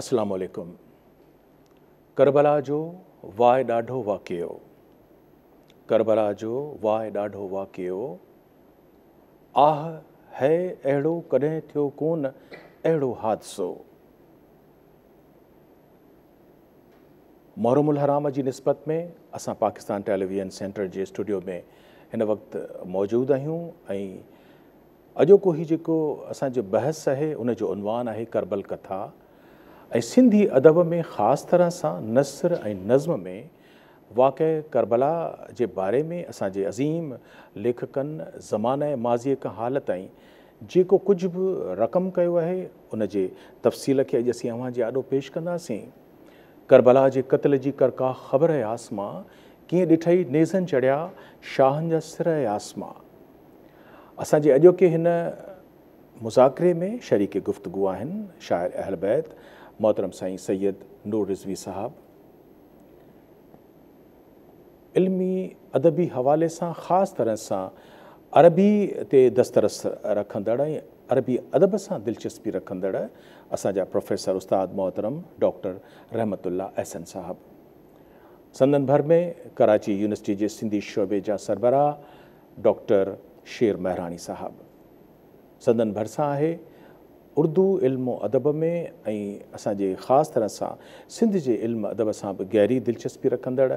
اسلام عليڪم ڪربلا جو واء ڏاڍو واقعو ڪربلا جو واء ڏاڍو واقعو آھ ھئي اھڙو ڪڏھن ٿيو ڪون اھڙو حادثو محرم الحرام جي نسبت ۾ اسان پاڪستان ٽيليويزن سينٽر جي اسٽوڊيو ۾ ھن وقت موجود آھيون ۽ اڄوڪو هي جيڪو اسان جو بحث آهي ان جو عنوان آهي ڪربل ڪٿا ۽ سنڌي ادب ۾ خاص طرح سان نثر ۽ نظم ۾ واقعه ڪربلا جي باري ۾ اسان جي عظيم ليکڪن زمانه ماضيء کان حال تائين جيڪو ڪجهه به رقم ڪيو آهي ان جي تفصيل کي اڄ اسين اوهان جي آڏو پيش ڪنداسين. ڪربلا جي قتل جي ڪرڪا خبر اي آسمان ڪيئن ڏٺئي نيزن چڙهيا شاهن جا سر اي آسمان. اسان جي اڄوڪي هن مذاڪري ۾ شريڪ گفتگو آهن شاعر اهل بيت محترم سائين سيد نور رضوي صاحب. علمي ادبي حوالي سان خاص طرح سان عربي تي دسترس رکندڙ ۽ عربي ادب سان دلچسپي رکندڙ اسان جا پروفيسر استاد محترم ڊاڪٽر رحمت الله احسن صاحب. سندن ڀر ۾ ڪراچي يونيورسٽي جي سنڌي شعبي جا سربراهه ڊاڪٽر شير مهراڻي صاحب سندن ڀرسان آهي. اردو علم و ادب ۾ ۽ اسان جي خاص طرح سان سنڌ جي علم ادب سان به گهري دلچسپي رکندڙ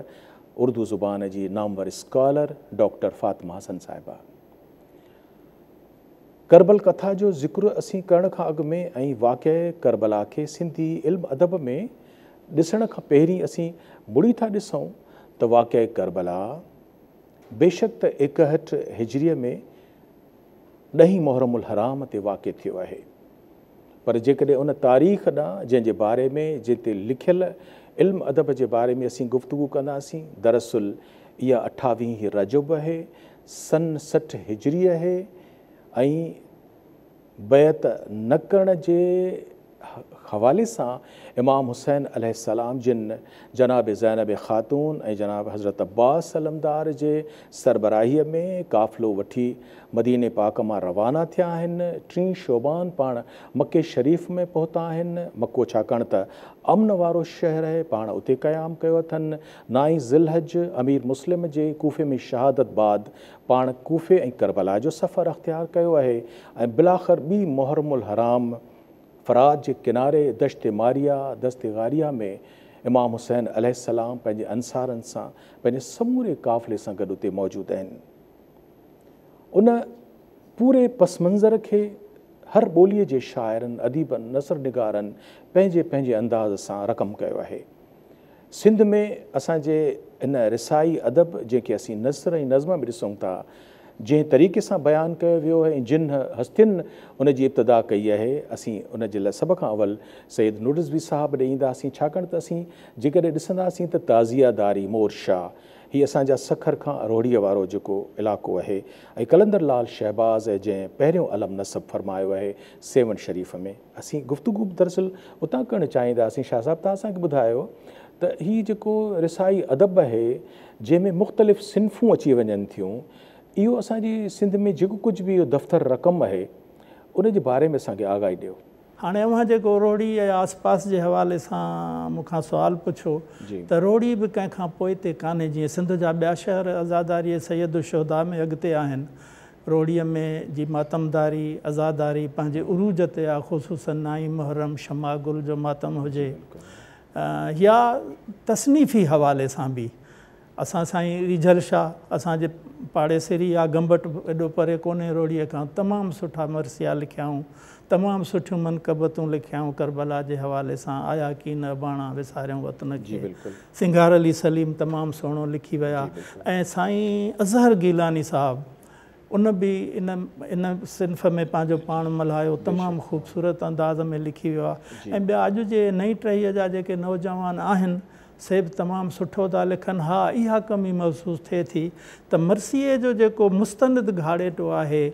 اردو زبان جي نامور اسڪالر ڊاڪٽر فاطمه حسن صاحبه. ڪربل ڪٿا جو ذڪر اسين ڪرڻ کان اڳ ۾ ۽ واقعي ڪربلا کي سنڌي علم ادب ۾ ڏسڻ کان پهرين اسين مڙي ٿا ڏسون ته واقعي ڪربلا، بيشڪ ته ايڪهٺ هجريء ۾ ڏهين محرم الحرام تي واقع ٿيو آهي. پر جيڪڏهن ان تاريخ ڏانهن جنهن جي باري ۾ جنهن تي لکيل علم ادب جي باري ۾ اسين گفتگو ڪنداسين، دراصل اها اٺاويهين رجب اهي، سن سٺ هجري اهي ۽. بيعت نه ڪرڻ جي حوالي سان امام حسين عليه السلام جن جناب زينب خاتون ۽ جناب حضرت عباس علمدار جي سربراهيء ۾ قافلو وٺي مديني پاڪ مان روانا ٿيا آهن. ٽين شعبان پاڻ مڪي شريف ۾ پهتا آهن. مڪو ڇاڪاڻ ته امن وارو شهر اهي پاڻ اتي قيام ڪيو اٿن. نائين ذي الحج امير مسلم جي ڪوفي ۾ شهادت بعد پاڻ ڪوفي ۽ ڪربلا جو سفر اختيار ڪيو آهي ۽ بلاخر ٻي محرم الحرام فرات جي ڪناري دشت ماريه، دست غاريه، ۾ امام حسين عليه السلام پنهنجي انصارن سان پنهنجي سموري قافلي سان گڏ اتي موجود آهن. ان پوري پس منظر کي هر ٻوليء جي شاعرن، اديبن، نثر نگارن پنهنجي پنهنجي انداز سان رقم ڪيو آهي. سنڌ ۾ اسان جي ان رسائي ادب جنهن کي اسين نثر ۽ نظم به ڏسون ٿا، جنهن طريقي سان بيان ڪيو ويو آهي ۽ جن هستين ان جي ابتدا ڪئي آهي، اسين ان جي لاء سڀ کان اول سيد نوڊزوي صاحب ڏي اينداسين، ڇاڪاڻ ته اسين جيڪڏهن ڏسنداسين ته تعزيه داري مور شاهه هي اسان جا سکر کان روهڙيء وارو جيڪو علائقو آهي ۽ قلندر لعل شهباز جنهن پهريون علم نصب فرمايو آهي سيوهڻ شريف ۾. اسين گفتگو به دراصل اتان ڪرڻ چاهينداسين شاهه صاحب توهان اسان کي ٻڌايو ته هي جيڪو رسائي ادب آهي جنهن ۾ مختلف صنفون اچي وڃن ٿيون اهو اسان جي سنڌ ۾ جيڪو ڪجهه به اهو دفتر رقم آهي ان جي باري ۾ اسان کي آگاهي ڏيو. هاڻي اوهان جيڪو روهڙي ۽ آس پاس جي حوالي سان مون کان سوال پڇيو ته روهڙي به ڪنهن کان پوئتي ڪانهي جيئن سنڌ جا ٻيا شهر عزاداريء سيد الشهداء ۾ اڳتي آهن روهڙيء ۾ جي ماتمداري، عزاداري، پنهنجي عروج تي آ، خصوصاً نائين محرم شمع گل جو ماتم هجي يا تصنيفي حوالي سان به اسان سائين ريجهل شاهه، اسان جي پاڙيسري آ، گمبٽ ايڏو پري ڪونهي روهڙيء کان، تمام سٺا مرثيا لکيائون، تمام سٺيون منقبتون لکيائون ڪربلا جي حوالي سان آيا ڪين اباڻا وساريون وطن کي سنگھار علي سليم تمام سهڻو لکي ويا ۽ سائين اظهر گيلاني صاحب ان به ان ان صنف ۾ پنهنجو پاڻ ملهايو تمام خوبصورت انداز ۾ لکي ويو آهي ۽ ٻيا اڄ جي نئين ٽهيء جا جيڪي نوجوان آهن سي به تمام سٺو ٿا لکن. ها اها ڪمي محسوس ٿئي ٿي ته مرثيي جو جيڪو مستند گهاڙيٽو آهي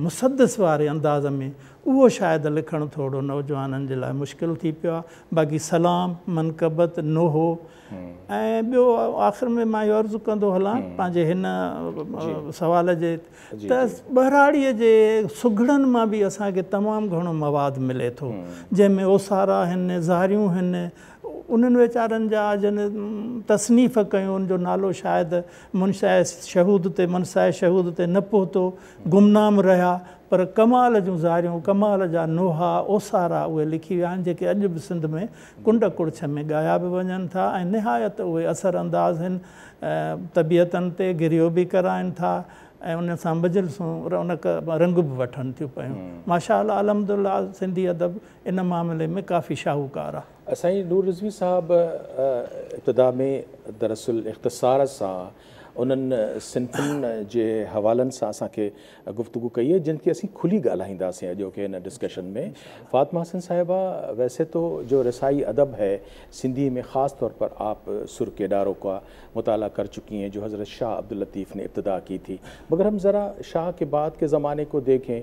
مسدس واري انداز ۾ اهو شايد لکڻ ٿورو نوجوانن جي لاء مشڪل ٿي پيو آهي باقي سلام، منقبت، نوحو ۽ ٻيو آخر ۾ مان اهو عرض ڪندو هلان پنهنجي هن سوال جي ته ٻهراڙيء جي سگهڙن مان به اسان کي تمام گهڻو مواد ملي ٿو جنهن ۾ اوسارا هن، زاريون هن، انهن ويچارن جا جن تصنيف ڪيون ان جو نالو شايد منشاء شهود تي منصاء شهود تي نه پهتو، گمنام رهيا، پر ڪمال جون زاريون، ڪمال جا نوحا، اوسارا اهي لکي ويا آهن جيڪي اڄ به سنڌ ۾ ڪنڊ ڪڙڇ ۾ ڳايا به وڃن ٿا ۽ نهايت اهي اثر انداز هن طبيعتن تي گريو به ڪرائن ٿا ۽ ان سان مجلسون رونق رنگ به وٺن ٿيون پيون ماشاء الله الحمد لله سنڌي ادب ان معاملي ۾ ڪافي شاهوڪار آ. سائين نور رضوي صاحب ابتدا ۾ دراصل اختصار سان انهن صنفن جي حوالن سان اسان کي گفتگو ڪئي آهي جن کي اسين کلي ڳالهائينداسين اڄوڪي هن ڊسڪشن ۾ فاطمه حسن صاحبه ويسي تو جو رسائي ادب هي سنڌي ۾ خاص طور پر آپ سر ڪي ڊارو ڪا مطالعه ڪر چڪي هين جو حضرت شاھ عبداللطيف ني ابتدا ڪي ٿي مگر هم ذرا شاھ ڪي بعد ڪي زماني ڪو ديکين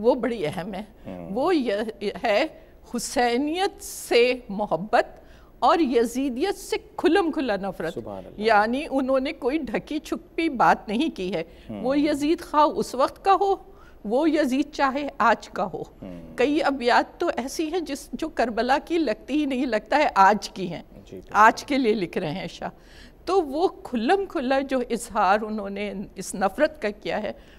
وو بڙي اهم هي وو يه هي حسينيت سي محبت اور يزيديت سي کلم کلا نفرت يعني انهون ني ڪوئي ڍڪي ڇپي بات نهين ڪي هي وو يزيد خواهه اس وقت ڪا هو وو يزيد چاهي آج ڪا هو ڪئي ابيات تو ايسي هين جس جو ڪربلا ڪي لگتي هي نهين لگتا هي آج ڪي هين آج ڪي لئي لک رهي هين شاهه تو وو کلم کلا جو اظهار انهون ني اس نفرت ڪا ڪيا هي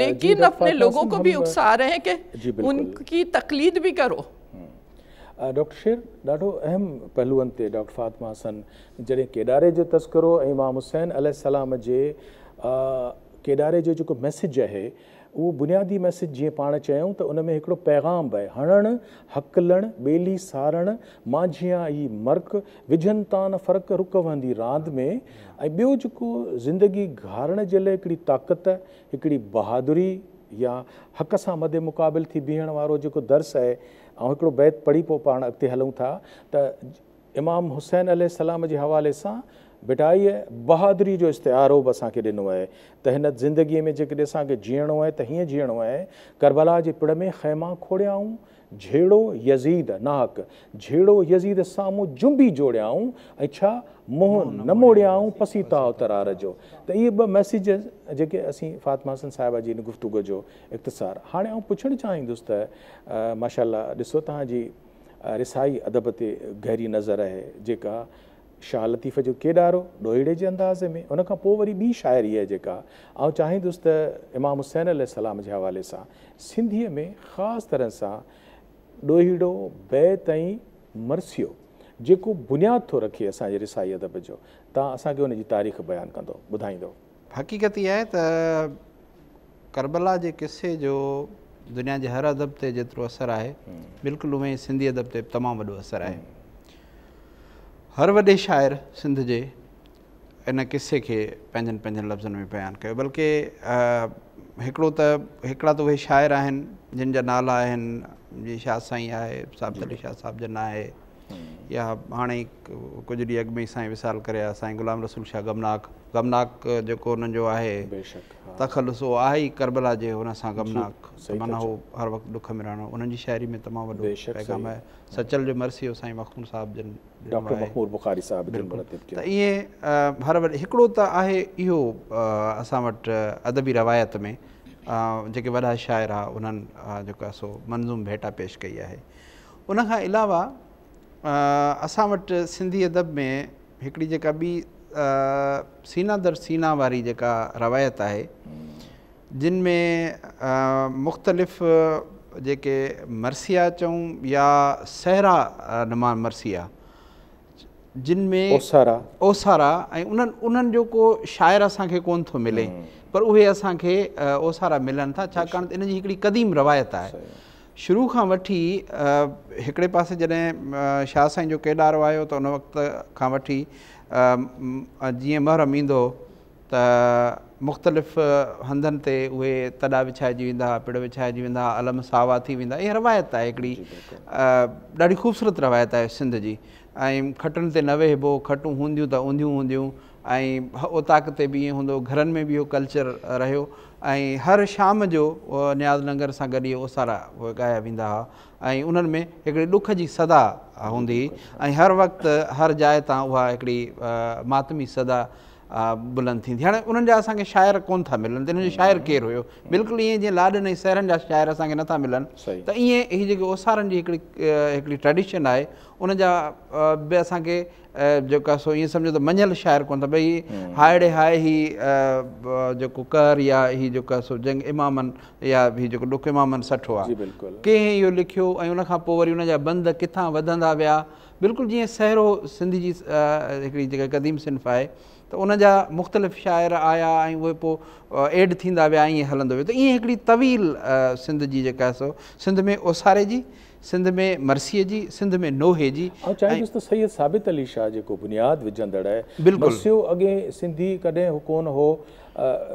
ليڪن اپني لوگون ڪو ڀي اڪسا رھي ھين ڪي ان ڪي تقليد ڀي ڪرو. ڊاڪٽر شير ڏاڍو اھم پھلوئن تي ڊاڪٽر فاطمه حسن جڏھن ڪيڏاري جو تذڪرو ۽ امام حسين عليه السلام جي ڪيڏاري جو جيڪو ميسيج اھي اھو بنيادي ميسيج جيئن پاڻ چيائون ته ان ۾ ھڪڙو پيغام به ھڻڻ ھڪلڻ ٻيلي سارڻ مانجھيان ئي مرڪ وجھن تان نه فرق رڪ وھندي راند ۾. ۽ ٻيو جيڪو زندگي گهارڻ جي لاء هڪڙي طاقت، هڪڙي بهادري يا حق سان مد مقابل ٿي بيهڻ وارو جيڪو درس آهي، آئون هڪڙو بيت پڙهي پوء پاڻ اڳتي هلون ٿا ته امام حسين عليه السلام جي حوالي سان ڀٽائيء بهادري جو استعارو به اسان کي ڏنو آهي ته هن زندگيء ۾ جيڪڏهن اسان کي جيئڻو آهي ته هيئن جيئڻو آهي، ڪربلا جي پڙ ۾ خيما کوڙيائون جھيڙو يزيد ناھڪ جھيڙو يزيد سامھون جنبي جوڙيائون ۽ ڇا منھن نه موڙيائون پسيتاء ترار جو ته اھي ٻه ميسيج جيڪي اسين فاطمه حسن صاحبه جي ان گفتگو جو اختصار ھاڻي آئون پڇڻ چاھيندس ته ماشاءالله ڏسو تنھنجي رسائي ادب تي گھري نظر اھي جيڪا شاهه لطيف جو ڪيڏارو ڏوهيڙي جي انداز ۾ ان کان پوء وري ٻي شاعري آهي جيڪا آئون چاهيندس ته امام حسين عليه السلام جي حوالي سان سنڌيء ۾ خاص طرح سان ڏوهيڙو بيت ۽ مرثيو جيڪو بنياد ٿو رکي اسان جي رسائي ادب جو تان اسان کي ان جي تاريخ بيان ڪندو ٻڌائيندو. حقيقت اها آهي ته ڪربلا جي قصي جو دنيا جي هر ادب تي جيترو اثر آهي بلڪل اوهين ئي سنڌي ادب تي تمام وڏو اثر آهي هر وڏي شاعر سنڌ جي ان قصي کي پنهنجن پنهنجن لفظن ۾ بيان ڪيو بلڪه هڪڙو ته هڪڙا ته اهي شاعر آهن جن جا نالا آهن جي شاهه سائين آهي صاحب علي شاهه صاحب جن آهي يا هاڻي ئي ڪجهه ڏينهن اڳ ۾ ئي سائين وصال ڪري ويا سائين غلام رسول شاهه غمناڪ غمناڪ جيڪو انهن جو آهي تخلص اهو آهي ئي ڪربلا جي ان سان غمناڪ ته معنيٰ هو هر وقت ڏک ۾ رهڻو انهن جي شاعري ۾ تمام وڏو پيغام آهي سچل جو مرثيو سائين مخمور صاحب جن بلڪل ته ائين هر وقت هڪڙو ته آهي اهو اسان وٽ ادبي روايت ۾ جيڪي وڏا شاعر هئا انهن جيڪو آهي سو منظوم ڀيٽا پيش ڪئي آهي ان کان علاوه اسان وٽ سنڌي ادب ۾ هڪڙي جيڪا ٻي سينا در سينا واري جيڪا روايت آهي جن ۾ مختلف جيڪي مرثيا چون يا سهرا نما مرثيا جن ۾ اوسارا اوسارا ۽ انهن جو ڪو شاعر اسان کي ڪون ٿو ملي پر اهي اسان کي اوسارا ملن ٿا ڇاڪاڻ ته ان جي هڪڙي قديم روايت آهي شروع کان وٺي هڪڙي پاسي جڏهن شاهه سائين جو ڪيڏارو آيو ته ان وقت کان وٺي جيئن محرم ايندو هو ته مختلف هنڌن تي اهي تڏا وڇائجي ويندا هئا پڙ وڇائجي ويندا هئا علم ساوا ٿي ويندا اها روايت آهي هڪڙي ڏاڍي خوبصورت روايت آهي سنڌ جي ۽ کٽن تي نه ويهبو کٽون هونديون ته اونڌيون هونديون ۽ اوطاق تي به ائين هوندو گهرن ۾ به اهو ڪلچر رهيو ۽ هر شام جو نياز ننگر سان گڏ اهي اوسارا ڳايا ويندا هئا ۽ انهن ۾ هڪڙي ڏک جي صدا هوندي هئي ۽ هر وقت هر جاء تان اها هڪڙي ماتمي صدا بلند ٿيندي هاڻي انهن جا اسان کي شاعر ڪون ٿا ملن ته انهن جو شاعر ڪير هيو بلڪل ائين جيئن لاڏن ۽ سهرن جا شاعر اسان کي نٿا ملن ته ائين هي جيڪي اوسارن جي هڪڙي هڪڙي ٽريڊيشن آهي ان جا به اسان کي جيڪا سو ائين سمجهو ته مڃيل شاعر ڪونه ٿا ڀئي هي هائڙي هاء هي جيڪو قهر يا هي جيڪا سو جنگ امامن يا هي جيڪو ڏک امامن سٺو آهي ڪنهن اهو لکيو ۽ ان کان پوء وري ان جا بند ڪٿان وڌندا ويا بلڪل جيئن سهرو سنڌ جي هڪڙي جيڪا قديم صنف آهي ته ان جا مختلف شاعر آيا ۽ اهي پوء ايڊ ٿيندا ويا ائين هلندو ويو ته ائين هڪڙي طويل سنڌ جي جيڪا سو سنڌ ۾ اوساري جي سنڌ ۾ مرثيي جي، سنڌ ۾ نوحي جي آئون چاهيندس ۽. ته سيد ثابت علي شاهه جيڪو بنياد وجهندڙ آهي، بلڪل. مرثيو اڳي سنڌي ڪڏهن هو ڪون هو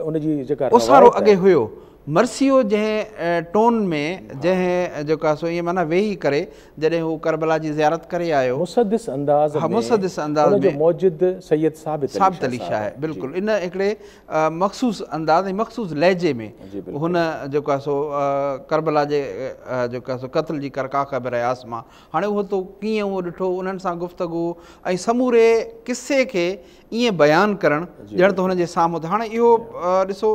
ان جي جيڪا اوسارو روايت اڳي آهي. هيو. مرثيو جنهن ٽون ۾ جنهن جيڪا سو ائين معنيٰ ويهي ڪري جڏهن هو ڪربلا جي زيارت ڪري آيو. مسدس انداز ها ۾ مسدس انداز ان جو ۾ موجد سيد ثابت علي ثابت شاهه علي صاحب شاهه آهي. جي. بلڪل ان هڪڙي مخصوص انداز ۽ مخصوص لهجي ۾ هن جيڪو آهي سو ڪربلا جي جيڪو آهي سو قتل جي ڪرڪا خيبر اياس مان هاڻي اهو تو ڪيئن اهو ڏٺو انهن سان گفتگو ۽ سموري قصي کي ائين بيان ڪرڻ ڄڻ ته هن جي سامهون ته هاڻي اهو ڏسو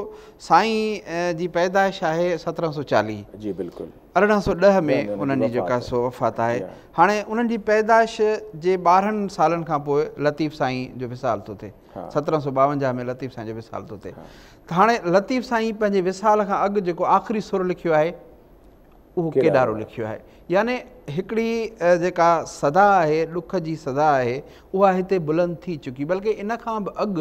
سائين جي پيدائش آهي سترهن سو چاليهه جي بلڪل ارڙهن سو ڏهه ۾ انهن جي جيڪا سو وفات آهي هاڻي انهن جي پيدائش جي ٻارهن سالن کان پوء لطيف سائين جو وصال ٿو ٿئي سترهن سؤ ٻاونجاهه ۾ لطيف سائين جو وصال ٿو ٿئي ته هاڻي لطيف سائين پنهنجي وصال کان اڳ جيڪو آخري سر لکيو آهي اهو ڪيڏارو لکيو آهي يعني هڪڙي جيڪا صدا آهي ڏک جي صدا آهي اها هتي بلند ٿي چڪي بلڪه ان کان به اڳ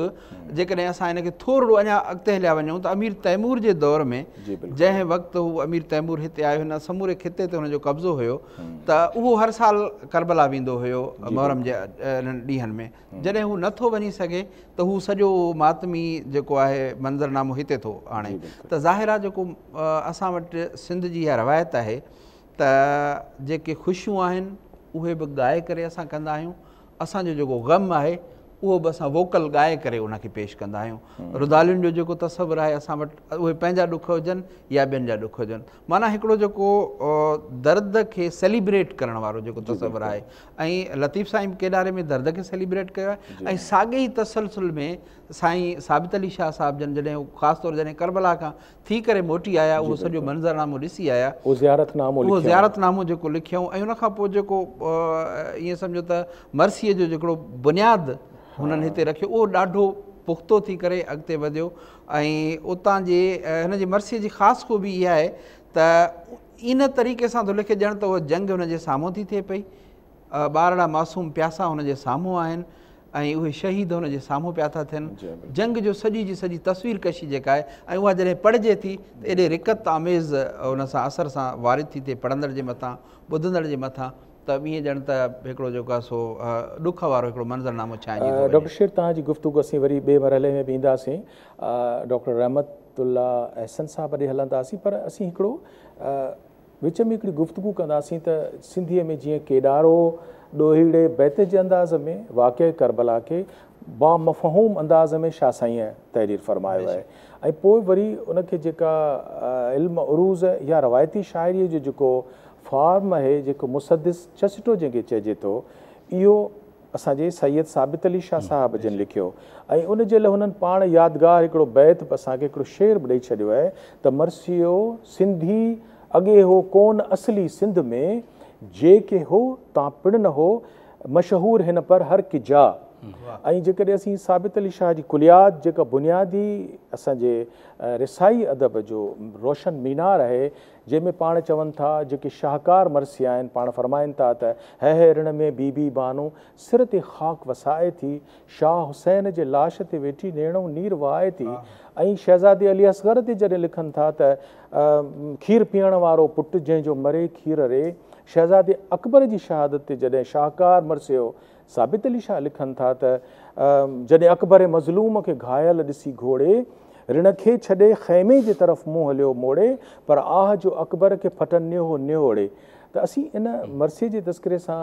جيڪڏهن اسان ان کي ٿورڙو اڃا اڳتي هليا وڃون ته امير تيمور جي دور ۾ جي جنهن وقت هو امير تيمور هتي آيو هن سموري خطي تي هن جو قبضو هيو ته اهو هر سال ڪربلا ويندو هيو محرم جي ڏينهن ۾ جڏهن هو نه ٿو وڃي سگهي ته هو سڄو ماتمي جيڪو آهي منظرنامو هتي ٿو آڻي ته ظاهر آهي جيڪو اسان وٽ سنڌ جي اها روايت آهي ته جيڪي خوشيون آهن اهي به ڳائي ڪري اسان ڪندا آهيون اسانجو جيڪو غم آهي اهو به اسان ووڪل ڳائي ڪري ان کي پيش ڪندا آهيون ردالين جو جيڪو تصور آهي اسان وٽ اهي پنهنجا ڏک هجن يا ٻين جا ڏک هجن معنی هڪڙو جيڪو درد کي سيليبريٽ ڪرڻ وارو جيڪو تصور آهي ۽ لطيف سائين به ڪيڏاري ۾ درد کي سيليبريٽ ڪيو آهي ۽ ساڳي ئي تسلسل ۾ سائين ثابت علي شاهه صاحب جن جڏهن خاص طور جڏهن ڪربلا کان ٿي ڪري موٽي آيا اهو سڄو منظرنامو ڏسي آيا اهو زيارت نامو اهو زيارت نامو جيڪو لکيائون ۽ ان کان پوء جيڪو ائين سمجهو ته مرثيي جو جيڪڙو بنياد هنن هتي رکيو اهو ڏاڍو پختو ٿي ڪري اڳتي وڌيو ۽ اتان جي هن جي مرثيي جي خاص خوبي اها آهي ته ان طريقي سان ٿو لکي ڄڻ ته اها جنگ هن جي سامهون ٿي ٿئي پئي. ٻارڙا معصوم پياسا هن جي سامهون آهن ۽ اهي شهيد هن جي سامهون پيا ٿا ٿين. جنگ جو سڄي جي سڄي تصوير ڪشي جيڪا آهي ۽ اها جڏهن پڙهجي ٿي ته ايڏي رقت آميز ان سان اثر سان وارد ٿي ٿئي پڙهندڙ جي مٿان ٻڌندڙ جي مٿان ته ائين ڄڻ ته هڪڙو جيڪو آهي سو ڏک وارو هڪڙو منظرنامو ڇائنجي ٿو وڃي. ڊاڪٽر شير توهان جي گفتگو اسين وري ٻئي مرحلي ۾ به اينداسين ڊاڪٽر رحمت الله احسن صاحب ڏي هلنداسين پر اسين هڪڙو وچ ۾ هڪڙي گفتگو ڪنداسين ته سنڌيء ۾ جيئن ڪيڏارو ڏوهيڙي بيت جي انداز ۾ واقعي ڪربلا کي بامفهوم انداز ۾ شاهه سائينء تحرير فرمايو آهي ۽ پوء وري ان کي جيڪا علم عروض يا روايتي شاعريء جو جيڪو فارم آهي جيڪو مسدس چسٽو جنهن کي چئجي ٿو اهو اسان جي سيد ثابت علي شاهه صاحب جن لکيو ۽ ان جي لاء هنن پاڻ يادگار هڪڙو بيت به اسان کي هڪڙو شعر به ڏئي ڇڏيو آهي ته مرثيو سنڌي اڳي هو ڪون اصلي سنڌ ۾ جي ڪي هو تان پڻ نه هو مشهور هن پر هر ڪي جا ۽ جيڪڏهن اسين ثابت علي شاهه جي ڪليات جيڪا بنيادي اسان جي رسائي ادب جو روشن مينار آهي جنهن ۾ پاڻ چون ٿا، جيڪي شاهڪار مرثيا آهن، پاڻ فرمائن ٿا ته، هيء رڻ ۾ بي بي بانو سر تي خاڪ وسائي ٿي، شاهه حسين جي لاش تي ويٺي نيڻو نير وهائي ٿي ۽ شهزادي علي اصغر تي جڏهن لکن ٿا ته، کير پيئڻ وارو پٽ جنهن جو مري کير ري، شهزادي اڪبر جي شهادت تي جڏهن شاهڪار مرثيو ثابت علي شاهه لکن ٿا ته جڏهن اڪبر مظلوم کي گهايل ڏسي گهوڙي رڻ کي ڇڏي خيمي جي طرف منهن هليو موڙي پر آهه جو اڪبر کي ڦٽن نيهو نهوڙي ته اسين ان مرثيي جي تذڪري سان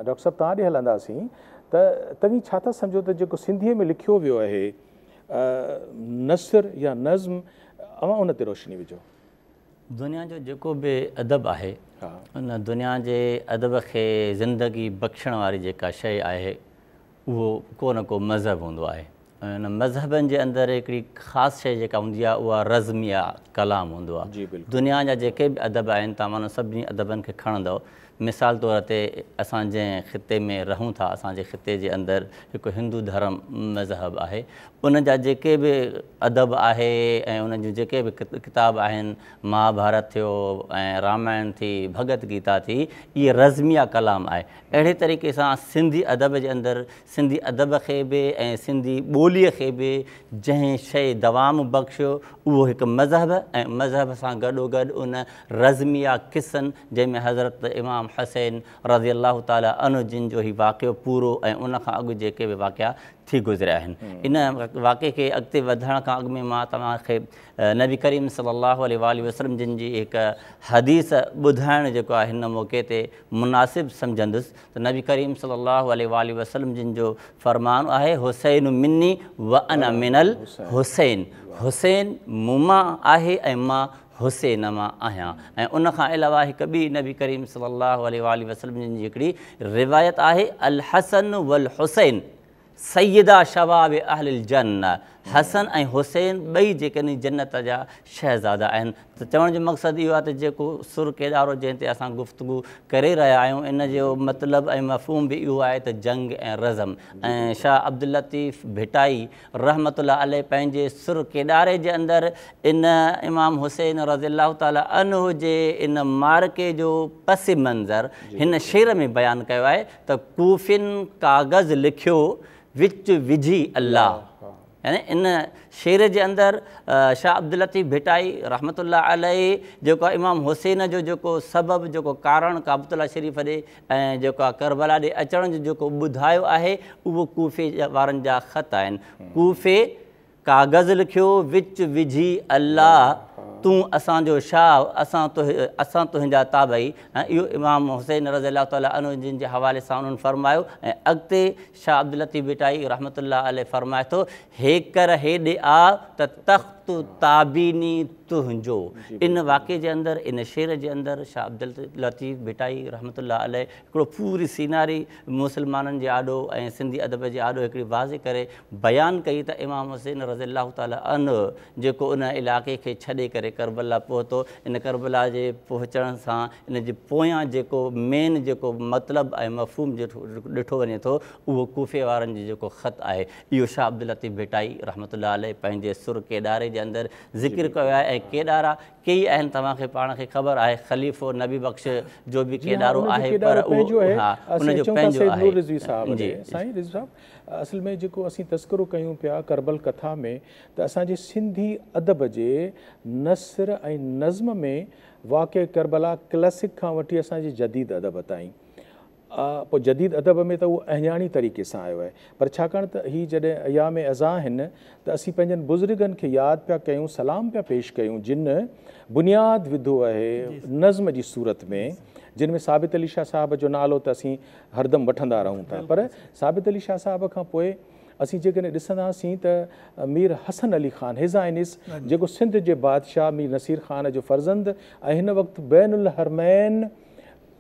ڊاڪٽر صاحب توهان ڏي هلنداسين ته توهين ڇا ٿا سمجهو ته جيڪو سنڌيء ۾ لکيو ويو آهي نثر يا نظم اوهان ان تي روشني وجهو. دنيا جو جيڪو به ادب آهي ان دنيا جي ادب کي زندگي بخشڻ واري جيڪا شيء آهي اهو ڪو نه ڪو مذهب هوندو آهي ۽ ان مذهبن جي اندر هڪڙي خاص شيء جيڪا هوندي آهي اها رزم يا ڪلام هوندو آهي دنيا جا جيڪي به ادب آهن تمام سڀني ادبن کي کڻندؤ مثال طور تي اسان جنهن خطي ۾ رهون ٿا، اسان جي خطي جي اندر هڪ هندو ڌرم مذهب آهي، ان جا جيڪي به ادب آهي ۽ انهن جون جيڪي به ڪتاب آهن، مهاڀارت ٿيو ۽ رامائڻ ٿي، ڀڳت گيتا ٿي، اهي رزميه ڪلام آهي. اهڙي طريقي سان سنڌي ادب جي اندر سنڌي ادب کي به ۽ سنڌي ٻوليء کي به جنهن شيء دوام بخشيو، اهو هڪ مذهب ۽ مذهب سان گڏوگڏ ان رزميه قصن جنهن ۾ حضرت امام حسين رضي الله تعاليٰ عنه جن جو هي واقعو پورو ۽ ان کان اڳ جيڪي به واقعا ٿي گذريا آهن ان واقعي کي اڳتي وڌڻ کان اڳ ۾ مان توهان کي نبي ڪريم صلي الله عليه واٰله وسلم جن جي هڪ حديث ٻڌائڻ جيڪو آهي هن موقعي تي مناسب سمجهندس ته نبي ڪريم صلي الله عليه واٰله وسلم جن جو فرمان آهي حسين مني وانا من الحسين حسين مون مان آهي ۽ مان حسين مان آهيان ۽ ان کان علاوه هڪ ٻي نبي ڪريم صلي الله عليه واٰله وسلم جن جي هڪڙي روايت آهي الحسن والحسين سيدا شباب اهل الجنه حسن ۽ حسين ٻئي جيڪڏهن جنت جا شهزادا آهن ته چوڻ جو مقصد اهو آهي ته جيڪو سر ڪيڏارو جنهن تي اسان گفتگو ڪري رهيا آهيون ان جو مطلب ۽ مفهوم به اهو آهي ته جنگ ۽ رزم ۽ شاهه عبداللطيف ڀٽائي رحمة الله عليه پنهنجي سر ڪيڏاري جي اندر ان امام حسين رضي الله تعالٰي عنه جي ان معرڪي جو پس منظر هن شعر ۾ بيان ڪيو آهي ته ڪوفين ڪاغذ لکيو وچ وجهي الله يعني ان شعر جي اندر شاهه عبداللطيف ڀٽائي رحمة الله عليه جيڪو امام حسين جو جيڪو سبب جيڪو ڪارڻ ڪعبة الله شريف ڏي ۽ جيڪا ڪربلا ڏي اچڻ جو جيڪو ٻڌايو آهي اهو ڪوفي وارن جا خط آهن ڪوفي ڪاغذ لکيو وچ وجهي الله تون اسان جو شاهه اسان اسان تنهنجا تابعي ۽ اهو امام حسين رضي الله تعالي عنه جن جي حوالي سان انهن فرمايو ۽ اڳتي شاهه عبداللطيف ڀٽائي رحمة الله عليه فرمائي ٿو هيڪر هيڏي آ ته تخت تابيني تنهنجو. ان واقعي جي اندر، ان شعر جي اندر شاهه عبداللطيف ڀٽائي رحمة الله عليه هڪڙو پوري سيناري مسلمانن جي آڏو ۽ سنڌي ادب جي آڏو هڪڙي واضح ڪري بيان ڪئي ته امام حسين رضي الله تعالٰي عنه جيڪو ان علائقي کي ڇڏي ڪري ڪربلا پهتو، ان ڪربلا جي پهچڻ سان ان جي پويان جيڪو مين جيڪو مطلب ۽ مفهوم ڏٺو وڃي ٿو اهو ڪوفي وارن جو جيڪو خط آهي. اهو شاهه عبداللطيف ڀٽائي رحمة الله عليه پنهنجي سر ڪيڏاري جي اندر ذڪر ڪيو آهي ۽ ڪيڏارا ڪيئي آهن توهان کي پاڻ کي خبر آهي خليفو نبي بخش جو به ڪيڏارو آهي پر اهو ها ان جو پنهنجو آهي جي سائين رضوي صاحب اصل ۾ جيڪو اسين تذڪرو ڪيون پيا ڪربل ڪٿا ۾ ته اسان جي سنڌي ادب جي نثر ۽ نظم ۾ واقعي ڪربلا ڪلاسڪ کان وٺي اسان جي جديد ادب تائين آ پوء جديد ادب ۾ ته اهو اهڃاڻي طريقي سان آيو آهي. پر ڇاڪاڻ ته هي جڏهن ايام عزا آهن ته اسين پنهنجن بزرگن کي ياد پيا ڪيون سلام پيا پيش ڪيون جن بنياد وڌو اهي نظم جي صورت ۾ جن ۾ ثابت علي شاهه صاحب جو نالو ته اسين هردم وٺندا رهون ٿا پر ثابت علي شاهه صاحب کان پوء اسين جيڪڏهن ڏسنداسين ته مير حسن علي خان His Highness جيڪو سنڌ جي بادشاهه مير نصير خان جو فرزند ۽ هن وقت بين الحرمين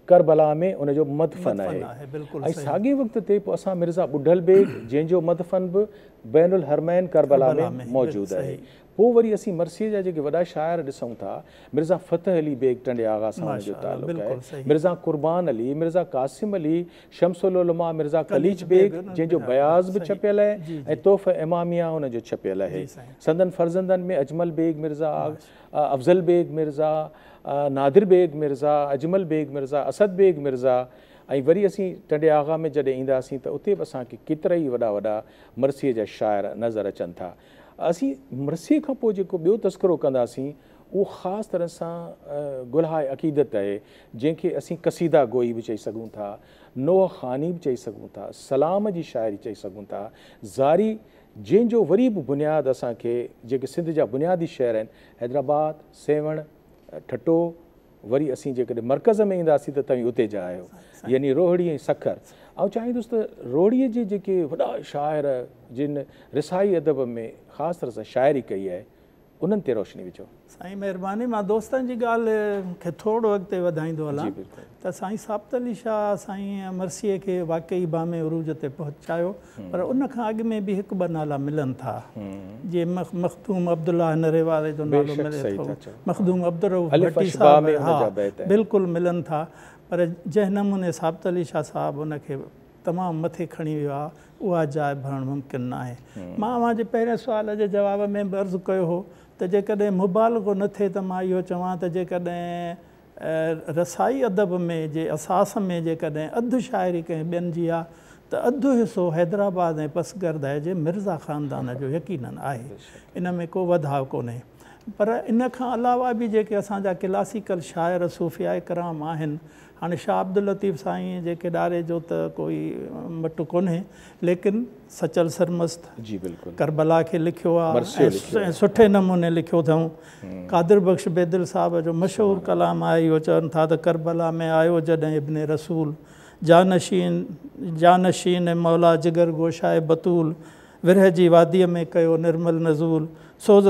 ڪربلا ۾ ان جو مدفن آهي ۽ ساڳئي وقت تي پوء اسان مرزا ٻڍل بيگ جنهن جو مدفن به بين الحرمين ڪربلا ۾ موجود آهي. پوء وري اسين مرثيي جا جيڪي وڏا شاعر ڏسون ٿا، مرزا فتح علي بيگ ٽنڊي آغا سان ان جو تعلق آهي، مرزا قربان علي، مرزا قاسم علي، شمس العلماء مرزا قليچ بيگ جنهن جو بياض به ڇپيل آهي ۽ تحفه اماميه ان جو ڇپيل آهي. سندن فرزندن ۾ اجمل بيگ مرزا آغا، افضل بيگ مرزا، نادر بيگ مرزا، اجمل بيگ مرزا، اسد بيگ مرزا ۽ وري اسين ٽنڊي آغا ۾ جڏهن اينداسين ته اتي به اسان کي ڪيترائي وڏا وڏا مرثيي جا شاعر نظر اچن ٿا. اسين مرثيي کان پوء جيڪو ٻيو تذڪرو ڪنداسين اهو خاص طرح سان گلهاء عقيدت آهي، جنهن کي اسين قصيده گوئي به چئي سگهون ٿا، نوحه خواني به چئي سگهون ٿا، سلام جي شاعري چئي سگهون ٿا، زاري جنهن جو وري به بنياد اسان کي جيڪي سنڌ جا بنيادي شهر آهن حيدرآباد، سيوهڻ، ٺٽو وري اسين جيڪڏهن مرڪز ۾ اينداسين ته توهين اتي جا آهيو يعني روهڙي ۽ سکر آئون چاهيندس ته روهڙي جي جيڪي وڏا شاعر جن رسائي ادب ۾ خاص طرح سان شاعري ڪئي آهي انهن تي روشني وجهو. سائين مهرباني مان دوستن جي ڳالهه کي ٿورڙو اڳتي وڌائيندو هلان ته سائين ثابت علي شاهه سائين مرثيي کي واقعي بام عروج تي پهچايو پر ان کان اڳ ۾ به هڪ ٻه نالا ملن ٿا جيئن مخدوم عبدالله نري واري جو نالو ملي ٿو مخدوم عبدالرؤف ڀٽي صاحب ها بلڪل ملن ٿا پر جنهن نموني ثابت علي شاهه صاحب ان کي تمام مٿي کڻي ويو آهي، اها جاء ڀرڻ ممڪن ناهي. مان اوهان جي پهرين سوال جي جواب ۾ به عرض ڪيو هو ته جيڪڏهن مبالغو نه ٿئي ته مان اهو چوان ته جيڪڏهن رسائي ادب ۾ جي اساس ۾ جيڪڏهن اڌ شاعري ڪنهن ٻين جي آهي ته اڌ حصو حيدرآباد ۽ پسگردائي جي مرزا خاندان جو يقيناً آهي. ان ۾ ڪو وڌاء ڪونهي. پر ان کان علاوه به جيڪي اسان جا ڪلاسيڪل شاعر صوفياء ڪرام آهن، هاڻي شاهه عبداللطيف سائينء جي ڪيڏاري جو ته ڪوئي مٽ ڪونهي، ليڪن سچل سرمست جي بلڪل. ڪربلا کي لکيو آ مرثيو ۽ لکيو آ. سٺي نموني لکيو اٿئون. قادر بخش بيدل صاحب جو مشهور سبحان الله. ڪلام آهي اهو چون ٿا ته ڪربلا ۾ آيو جڏهن ابن رسول، جانشين جانشين مولا جگر گوشائي بتول، ورهه جي واديء ۾ ڪيو نرمل نزول، سوز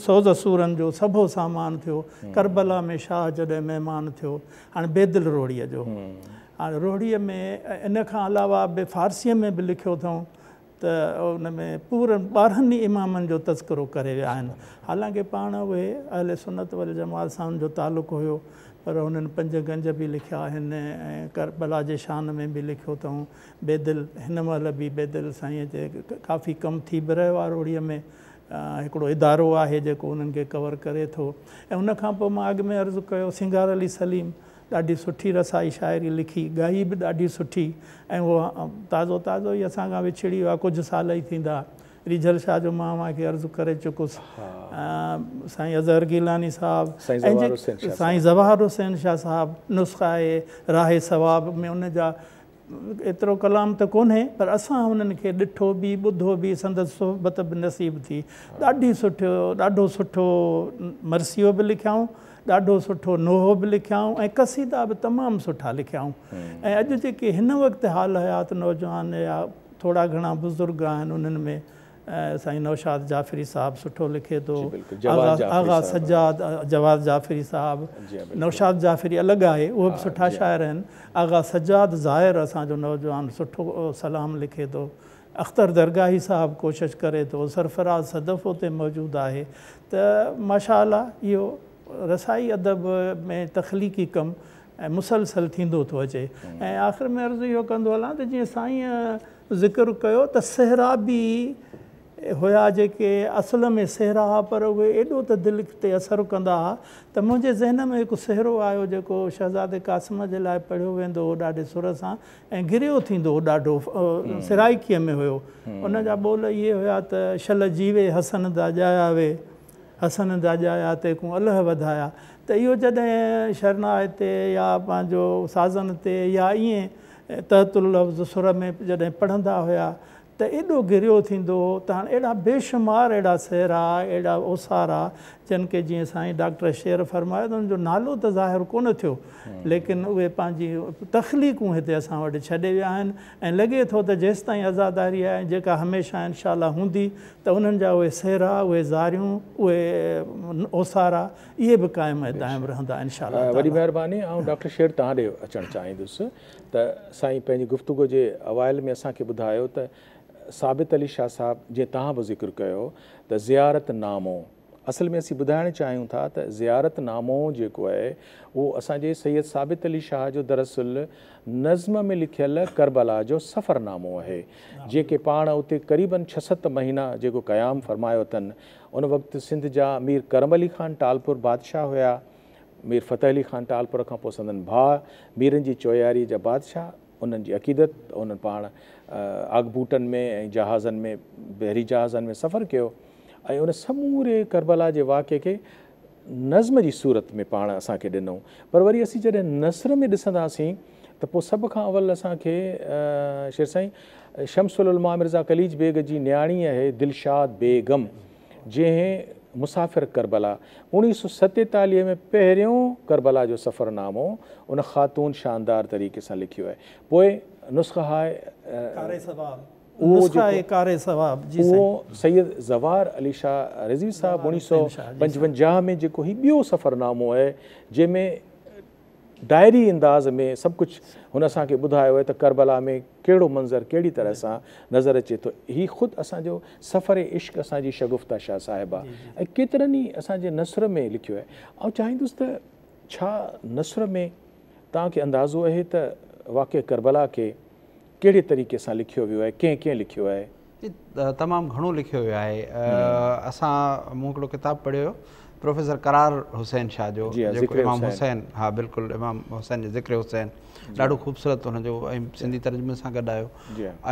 سوز سورن جو سڀو سامان ٿيو، ڪربلا ۾ شاهه جڏهن مهمان ٿيو. هاڻي بيدل روهڙيء جو. هاڻي روهڙيء ۾ ان کان علاوه به فارسيء ۾ به لکيو اٿئون ته ان ۾ پورن ٻارهن ئي امامن جو تذڪرو ڪري ويا آهن. حالانڪه پاڻ اهي اهل سنت والجماعت سان هن جو تعلق هيو، پر هنن پنج گنج به لکيا آهن ۽ ڪربلا جي شان ۾ به لکيو اٿئون بيدل هن مهل به بيدل سائين تي ڪافي ڪم ٿي به رهيو آهي روهڙيء ۾ هڪڙو ادارو آهي جيڪو انهن کي ڪور ڪري ٿو ۽ ان کان پوء مان اڳ ۾ عرض ڪيو سينگار علي سليم ڏاڍي سٺي رسائي شاعري لکي ڳائي به ڏاڍي سٺي ۽ هو تازو تازو ئي اسان کان وڇڙي ويو آهي ڪجهه سال ئي ٿيندا ريجهل شاهه جو مان اوهان کي عرض ڪري چڪس سائين اظهر گيلاني صاحب سائين ظواهر حسين شاهه صاحب نسخه آهي راهي ثواب ۾ ان جا ايترو ڪلام ته ڪونهي پر اسان هنن کي ڏٺو به ٻڌو به سندس صحبت به نصيب ٿي ڏاڍي سٺو ڏاڍو سٺو مرثيو به لکيائون ڏاڍو سٺو نوحو به لکيائون ۽ قصيدا به تمام سٺا لکيائون ۽ اڄ جيڪي هن وقت حال حيات نوجوان يا ٿورا گهڻا بزرگ آهن انهن ۾ سائين نوشاد جعفري صاحب سٺو لکي ٿو آغا سجاد جواز جعفري صاحب نوشاد جعفري الڳ آهي اهي به سٺا شاعر آهن آغا سجاد ظاهر اسان جو نوجوان سٺو سلام لکي ٿو اختر درگاهي صاحب ڪوشش ڪري ٿو سرفراز صدف اتي موجود آهي ته ماشاء الله اهو رسائي ادب ۾ تخليقي ڪم مسلسل ٿيندو ٿو اچي ۽ آخر ۾ عرض اهو ڪندو هلان ته جيئن سائين ذڪر ڪيو ته سهرابي هيا جيڪي اصل ۾ سهرا هئا پر اهي ايڏو ته دل تي اثر ڪندا هئا ته منهنجي ذهن ۾ هڪ سهرو آيو جيڪو شهزادي قاسم جي لاء پڙهيو ويندو هو ڏاڍي سر سان ۽ گريو ٿيندو هو ڏاڍو سرائيڪيء ۾ هيو ان جا ٻول اهي هيا ته شل جيوي حسن دا ڄايا وي حسن دا ڄايا تيڪون الهه وڌايا ته اهو جڏهن شرناء تي يا پنهنجو سازن تي يا ائين تحت اللفظ سر ۾ جڏهن پڙهندا هيا ته ايڏو گريو ٿيندو هو ته هاڻ اهڙا بيشمار اهڙا سهرا، اهڙا اوسارا جن کي جيئن سائين ڊاڪٽر شعر فرمايو ته ان جو نالو ته ظاهر ڪونه ٿيو ليڪن اهي پنهنجي تخليقون هتي اسان وٽ ڇڏي ويا آهن ۽ لڳي ٿو ته جيستائين عزاداري آهي ۽ جيڪا هميشه انشاء الله هوندي ته انهن جا اهي سهرا، اهي زاريون، اهي اوسارا اهي به قائم ۽ دائم رهندا انشاء الله تعالي. وڏي مهرباني آئون ڊاڪٽر شير توهان ڏي اچڻ چاهيندس ته سائين پنهنجي گفتگو جي اوائل ۾ اسان کي ٻڌايو ته ثابت علي شاهه صاحب جي توهان به ذڪر ڪيو ته زيارت نامو اصل ۾ اسين ٻڌائڻ چاهيون ٿا ته زيارت نامو جيڪو آهي اهو اسان جي سيد ثابت علي شاهه جو دراصل نظم ۾ لکيل ڪربلا جو سفر نامو آهي جيڪي پاڻ اتي قريبن ڇهه ست مهينا جيڪو قيام فرمايو اٿن ان وقت سنڌ جا مير ڪرم علي خان ٽالپر بادشاهه هيا. مير فتح علي خان ٽالپر کان پوء سندن ڀاء ميرن جي چوياريء جا بادشاهه انهن جي عقيدت ته انهن پاڻ آگبوٽن ۾ ۽ جهازن ۾ بحري جهازن ۾ سفر ڪيو ۽ ان سموري ڪربلا جي واقعي کي نظم جي صورت ۾ پاڻ اسان کي ڏنو پر وري اسين جڏهن نثر ۾ ڏسنداسين ته پوء سڀ کان اول اسان کي شير سائين شمس العلماء مرزا قليچ بيگ جي نياڻي اهي دلشاد بيگم جنهن مسافر ڪربلا اوڻيهه سؤ ستيتاليهه ۾ پهريون ڪربلا جو سفرنامو ان خاتون شاندار طريقي سان لکيو اهي پوء نسخه هاء نسخه آهي ڪاري ثواب جي سائين. اهو سيد زوار علي شاهه رضوي صاحب اوڻيهه سئو پنجونجاهه ۾ جيڪو هي ٻيو سفرنامو آهي جنهن ۾ ڊائري انداز ۾ سڀ ڪجهه هن اسان کي ٻڌايو آهي ته ڪربلا ۾ ڪهڙو منظر ڪهڙي طرح سان نظر اچي ٿو هي خود اسان جو سفر عشق اسان جي شگفته شاهه صاحبه ۽ ڪيترن ئي اسان جي نثر ۾ لکيو آهي آئون چاهيندس ته ڇا نثر ۾ توهان کي اندازو اهي ته واقعي ڪربلا کي ڪهڙي طريقي سان لکيو ويو آهي، ڪنهن ڪنهن لکيو آهي؟ تمام گهڻو لکيو ويو آهي. اسان مون هڪڙو ڪتاب پڙهيو هيو پروفيسر قرار حسين شاهه جو جيڪو امام حسين ها بلڪل امام حسين جو ذڪر حسين ڏاڍو خوبصورت هن جو ۽ سنڌي ترجمي سان گڏ آيو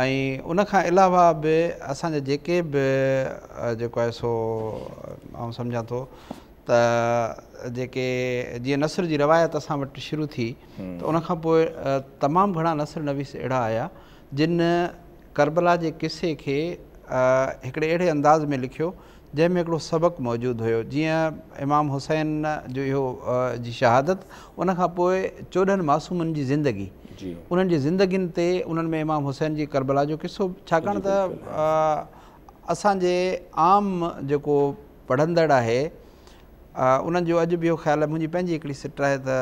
۽ ان کان علاوه به اسان جا جيڪي به جيڪو آهي سو آئون سمجهان ٿو ته جيڪي جيئن نثر جي روايت اسان وٽ شروع ٿي ته ان کان پوء تمام گهڻا نثر نويس اهڙا آيا جن ڪربلا جي قصي کي هڪڙي اهڙي انداز ۾ لکيو جنهن ۾ هڪڙو سبق موجود هيو جيئن امام حسين جو اهو جي شهادت ان کان پوء چوڏهن معصومن جي زندگي انهن جي زندگين تي انهن ۾ امام حسين جي ڪربلا جو قصو ڇاڪاڻ ته اسان جي عام جيڪو پڙهندڙ آهي انهن جو اڄ به اهو خيال آهي، منهنجي پنهنجي هڪڙي سٽ آهي ته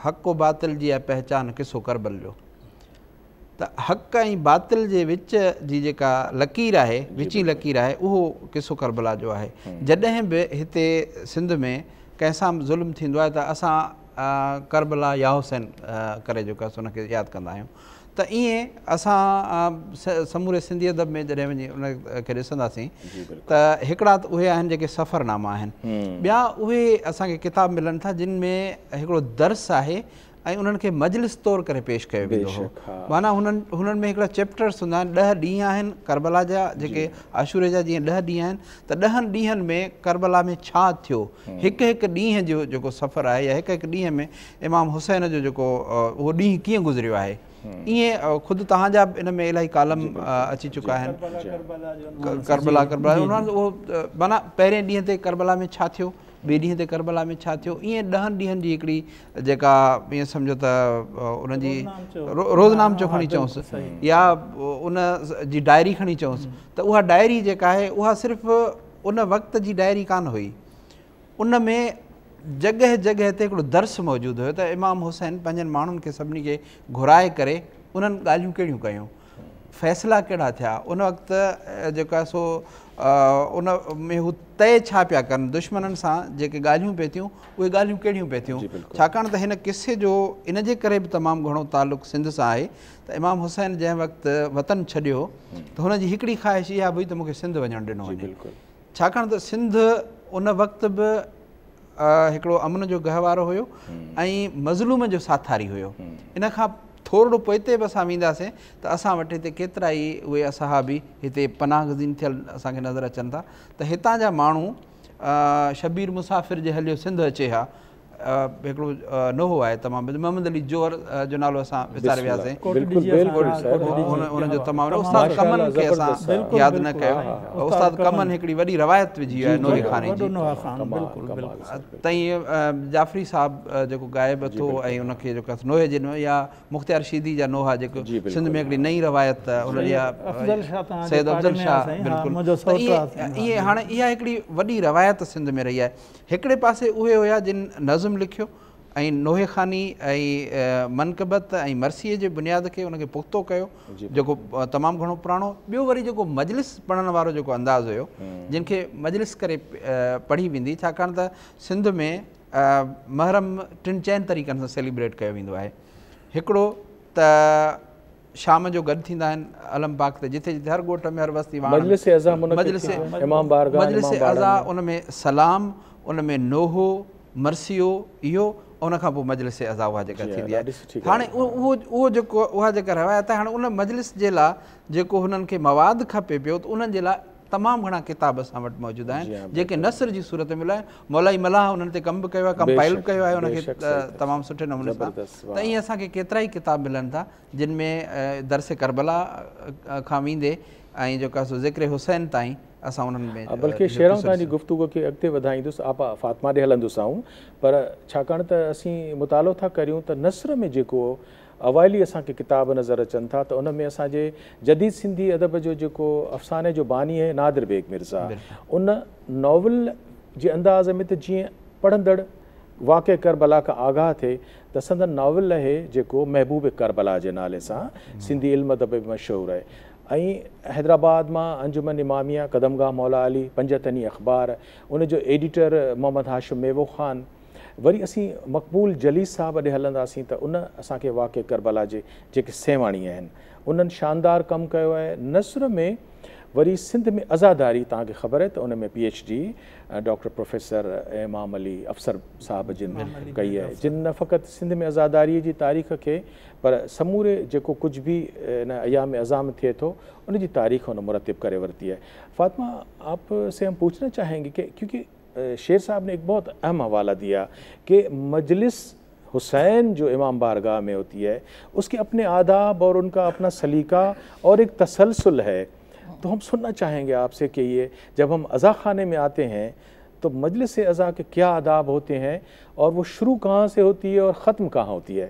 حق و باطل جي آهي پهچان قصو ڪربل جو ته حق ۽ باطل جي وچ جي جيڪا لڪير آهي وچين لڪير آهي اهو قصو ڪربلا جو آهي جڏهن به هتي سنڌ ۾ ڪنهن سان به ظلم ٿيندو آهي ته اسان ڪربلا يا حسين ڪري جيڪو ان کي ياد ڪندا آهيون ته ائين اسان سموري سنڌي ادب ۾ جڏهن وڃي ان کي ڏسنداسين ته هڪڙا ته اهي آهن جيڪي سفرناما آهن ٻيا اهي اسان کي ڪتاب ملن ٿا جن ۾ هڪڙو درس آهي ۽ انهن کي مجلس طور ڪري پيش ڪيو ويندو هو معنيٰ هنن ۾ هڪڙا چيپٽرس هوندا آهن ڏهه ڏينهن آهن ڪربلا جا جيڪي عاشوري جا جيئن ڏهه ڏينهن آهن ته ڏهن ڏينهن ۾ ڪربلا ۾ ڇا ٿيو هڪ هڪ ڏينهن جو جيڪو سفر آهي يا هڪ هڪ ڏينهن ۾ امام حسين جو جيڪو اهو ڏينهن ڪيئن گذريو آهي ائين خود توهان جا به ان ۾ الاهي ڪالم اچي چڪا آهن ڪربلا ڪربلا اهو مانا پهرين ڏينهن تي ڪربلا ۾ ڇا ٿيو ٻئي ڏينهن تي ڪربلا ۾ ڇا ٿيو ائين ڏهن ڏينهن جي هڪڙي جيڪا ائين سمجھو ته ان جي روزنامچو کڻي چئوس يا ان جي ڊائري کڻي چئوس ته اها ڊائري جيڪا آهي اها صرف ان وقت جي ڊائري ڪان هئي ان ۾ جڳهه جڳهه تي هڪڙو درس موجود هيو ته امام حسين پنهنجن ماڻهن کي سڀني کي گهرائي ڪري انهن ڳالهيون ڪهڙيون ڪيون فيصلا ڪهڙا ٿيا ان وقت جيڪو آهي سو ان ۾ هو طئي ڇا پيا ڪن دشمنن سان جيڪي ڳالهيون پئي ٿيون اهي ڳالهيون ڪهڙيون پئي ٿيون جي ڇاڪاڻ ته هن قصي جو ان جي ڪري به تمام گهڻو تعلق سنڌ سان آهي ته امام حسين جنهن وقت وطن ڇڏيو ته هن جي هڪڙي خواهش اها به هئي ته مون کي سنڌ وڃڻ ڏنو وڃي ڇاڪاڻ ته سنڌ ان وقت به هڪڙو امن جو گهوارو هيو ۽ مظلوم جو ساٿاري هيو ان کان ٿورڙو پوئتي به اسان وينداسين ته اسان وٽ هتي ڪيترا ئي اهي اصحابي هتي پناهه گزين ٿيل اسان کي نظر اچن ٿا ته هتان جا ماڻهو شبير مسافر جي هليو سنڌ اچي ها هڪڙو نوحو آهي تمام محمد علي جوهر جو نالو اسان وساري وياسين ان جو تمام استاد ڪمن کي اسان ياد نه ڪيو استاد ڪمن هڪڙي وڏي روايت وجهي آهي نوحي خاني جي تائين جعفري صاحب جيڪو غائب اٿو ۽ ان کي جيڪو نوحي جي يا مختيار شيدي جا نوحا جيڪو سنڌ ۾ هڪڙي نئين روايت ان جي سيد افضل شاهه بلڪل ائين هاڻي اها هڪڙي وڏي روايت سنڌ ۾ رهي آهي هڪڙي پاسي اهي هيا جن نظم لکيو ۽ نوحي خواني ۽ منقبت ۽ مرثيي جي بنياد کي ان کي پختو ڪيو جيڪو تمام گهڻو پراڻو ٻيو وري جيڪو مجلس پڙهڻ وارو جيڪو انداز هيو جن کي مجلس ڪري پڙهي ويندي ڇاڪاڻ ته سنڌ ۾ محرم ٽن چئن طريقن سان سيليبريٽ ڪيو ويندو آهي هڪڙو ته شام جو گڏ ٿيندا آهن علم پاڪ تي جتي جتي هر ڳوٺ ۾ هر وستي واڻ ۾ مجلس عزا منعقد ٿي مجلس ٿيندي آهي امام بارگاهه ۽ مجلس امام باڙن عزا ۾ ان ۾ سلام ان ۾ نوحو مرثيو اهو ۽ ان کان پوء مجلس عزا اها جيڪا جي ها ٿيندي آهي ڏاڍي سٺي ڳالهه هاڻي اهو اهو اهو جيڪو اها جيڪا روايت آهي هاڻي ان مجلس جي لاء جيڪو هنن کي مواد کپي پيو ته انهن جي لاء تمام گهڻا ڪتاب اسان وٽ موجود آهن جيڪي نثر جي صورت ۾ مليا آهن مولائي ملاح انهن تي ڪم به ڪيو آهي ڪمپائل به ڪيو آهي ان کي تمام سٺي نموني سان ته ائين اسان کي ڪيترا ئي ڪتاب ملن ٿا جن ۾ درس ڪربلا کان ويندي ۽ جيڪو آهي سو ذڪر حسين تائين اسان انهن ۾ بلڪه شيران تان جي گفتگو کي اڳتي وڌائيندس آپا فاطمه ڏي هلندوسانو پر ڇاڪاڻ ته اسين مطالعو ٿا ڪريون ته نثر ۾ جيڪو اوائل ئي اسان کي ڪتاب نظر اچن ٿا ته ان ۾ اسان جي جديد سنڌي ادب جو جيڪو افساني جو باني اهي نادر بيگ مرزا ان ناول جي انداز ۾ ته جيئن پڙهندڙ واقعي ڪربلا کان آگاهه ٿئي ته سندن ناول اهي جيڪو محبوب ڪربلا جي نالي سان سنڌي علم ادب ۾ مشهور اهي ۽ حيدرآباد مان انجمن اماميه قدمگاهه مولا علي پنجتني اخبار ان جو ايڊيٽر محمد هاشم ميوو خان وري اسين مقبول جليس صاحب ڏي هلنداسين ته ان اسان کي واقعي ڪربلا جي جيڪي سيوهاڻي آهن انهن شاندار ڪم ڪيو آهي نثر ۾ وري سنڌ ۾ عزاداري توهان کي خبر آهي ته ان ۾ P H D doctor professor Imam Ali Afsar صاحب جن ڪئي آهي جن نه فقط سنڌ ۾ عزاداري جي تاريخ کي پر سموري جيڪو ڪجهه به ان ايام عظام ٿئي ٿو ان جي تاريخ ان مرتب ڪري ورتي آهي فاطمه آپ سي هم پوڇنا چاهينگي ڪي ڪيونڪه شير صاحب ني ايڪ بهت اهم حوالا ديا ڪي مجلس حسين جو امام بارگاه مي هوتي هي اس ڪي اپني آداب اور ان ڪا اپنا سليقا اور ايڪ تسلسل هي تو هم سننا چاهين گي آپ سي ڪي يه جب هم عزا خاني مي آتي هين تو مجلس عزا ڪي ڪيا آداب هوتي هين اور وو شروع ڪهان سي هوتي هي اور ختم ڪهان هوتي هي.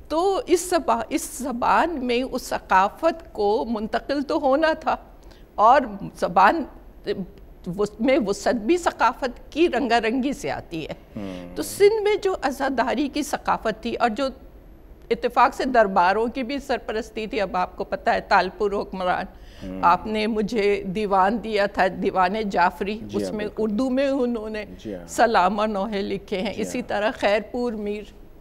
تو اس اس زبان مين اس ثقافت کو منتقل تو هونا ٿا اور زبان مين وسعت بي ثقافت ڪي رنگا رنگي سي آتي هي تو سنڌ مين جو عزاداري ڪي ثقافت ٿي اور جو اتفاق سي دربارون ڪي بي سرپرستي ٿي اب آپڪو پتا هي تالپور حڪمران آپ ني مجهي ديوان ديا ٿا ديوان جعفري اس مين اردو مين انهون ني سلام اور نوحي لکي هي اسي طرح خيرپور مير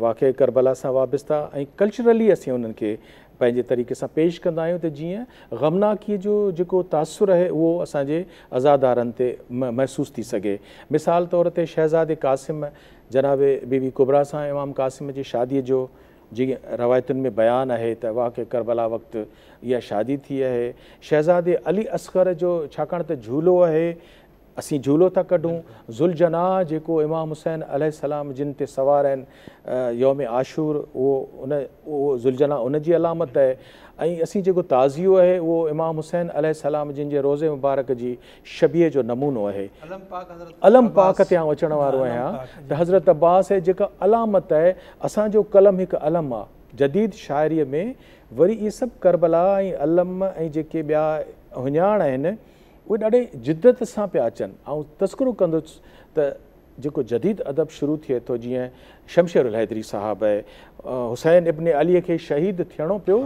واقعي ڪربلا سان وابسته ۽ ڪلچرلي اسين انهن کي پنهنجي طريقي سان پيش ڪندا آهيون ته جيئن غمناڪي جو جيڪو تاثر اهي اهو اسان جي عزادارن تي محسوس ٿي سگهي. مثال طور تي شهزادي قاسم جناب بي بي ڪبريٰ سان امام قاسم جي شادي جو جيئن روايتن ۾ بيان آهي ته واقعي ڪربلا وقت اها شادي ٿي اهي شهزادي علي اصغر جو ڇاڪاڻ ته جهولو اهي اسين جهولو ٿا ڪڍون. ذوالجناح جيڪو امام حسين عليه السلام جن تي سوار آهن يوم عاشور اهو ان اهو ذوالجناح ان جي علامت آهي ۽ اسين جيڪو تعزيو آهي اهو امام حسين عليه السلام جن جي روضي مبارڪ جي شبيهه جو نمونو آهي. علم پاڪ تي آئون اچڻ وارو آهيان ته حضرت عباس اهي جيڪا علامت آهي اسان جو قلم هڪ علم آهي جديد شاعريء ۾ وري اهي سڀ ڪربلا ۽ علم ۽ جيڪي ٻيا هڃاڻ آهن اهي ڏاڍي جدت سان پيا اچن. آئون تذڪرو ڪندس ته جيڪو جديد ادب شروع ٿئي ٿو جيئن شمشير الحيدري صاحب، حسين ابن عليء کي شهيد ٿيڻو پيو،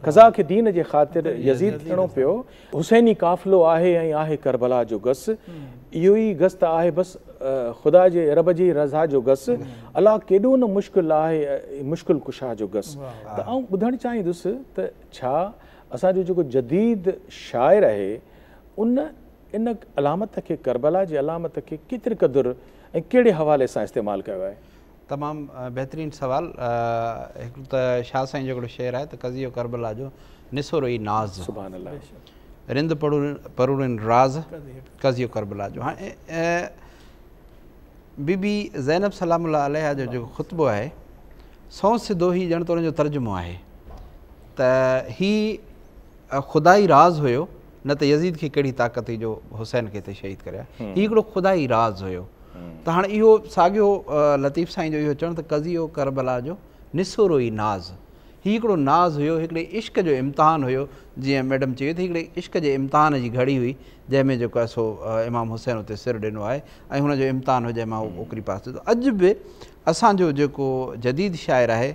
قضا کي دين جي خاطر يزيد ٿيڻو پيو، حسيني قافلو آهي ۽ آهي ڪربلا جو گس، اهو ئي گس ته آهي بس خدا جي رب جي رضا جو گس، الا ڪيڏو نه مشڪل آهي مشڪل ڪشا جو گس. ته آئون ٻڌڻ چاهيندس ته ڇا اسان جو جيڪو جديد شاعر آهي ان ان علامت کي ڪربلا جي علامت کي ڪيتري قدر ۽ ڪهڙي حوالي سان استعمال ڪيو آهي؟ تمام بهترين سوال هڪڙو ته شاهه سائين جو هڪڙو شعر آهي ته قضيو ڪربلا جو نسورو ئي ناز سبحان الله رند پروڙين راز قضيو ڪربلا جو هاڻي بي بي زينب سلام الله عليها جو جيڪو خطبو آهي سون سڌو هي ڄڻ ته ان جو ترجمو آهي ته هي خدائي راز هيو نه ته يزيد کي ڪهڙي طاقت هئي جو حسين کي هتي شهيد ڪري آيو هي هڪڙو خدائي راز هيو ته هاڻ اهو ساڳيو لطيف سائين جو اهو چوڻ ته قضيو ڪربلا جو نسورو ئي ناز هي هڪڙو ناز هيو هڪڙي عشق جو امتحان هيو جيئن ميڊم چيو ته هڪڙي عشق جي امتحان جي گهڙي هئي جنهن ۾ جيڪو آهي سو امام حسين اتي سر ڏنو آهي ۽ هن جو امتحان هو جنهن مان هو اوڪري پاس ٿيو اڄ به اسان جو جيڪو جديد شاعر آهي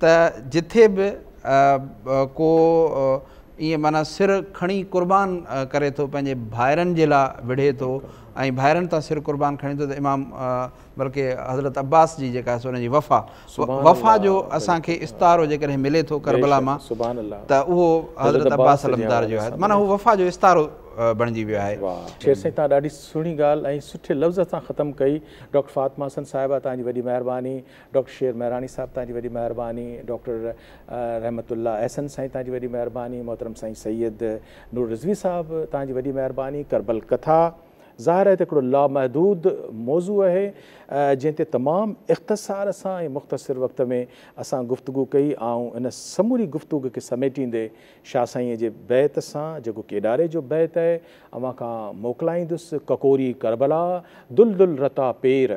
ته جٿي به ڪو ائين معنيٰ سر کڻي قربان ڪري ٿو پنهنجي ڀائرن جي لاء وڙهي ٿو ۽ ڀائرن تان سر قربان کڻي ٿو ته امام بلڪه حضرت عباس جي جيڪا ان جي وفا وفا جو اسان کي استعارو جيڪڏهن ملي ٿو ڪربلا مان ته اهو حضرت عباس علمدار جو آهي معنيٰ هو وفا جو استعارو بڻجي ويو آهي شير سائين تان ڏاڍي سهڻي ڳالهه ۽ سٺي لفظ سان ختم ڪئي ڊاڪٽر فاطمه حسن صاحبه تان جي وڏي مهرباني ڊاڪٽر شير مهراڻي صاحب توهان جي وڏي مهرباني، ڊاڪٽر رحمت الله احسن سائين توهان جي وڏي مهرباني، محترم سائين سيد نور رضوي صاحب توهان جي وڏي مهرباني، ڪربل ڪٿا ظاهر آهي ته هڪڙو لامحدود موضوع آهي جنهن تي تمام اختصار سان ۽ مختصر وقت ۾ اسان گفتگو ڪئي، آئون ان سموري گفتوگ کي سميٽيندي شاهه سائينء جي بيت سان جيڪو ڪيڏاري جو بيت آهي اوهان کان موڪلائيندس، ڪڪوري ڪربلا دل دل رتا پير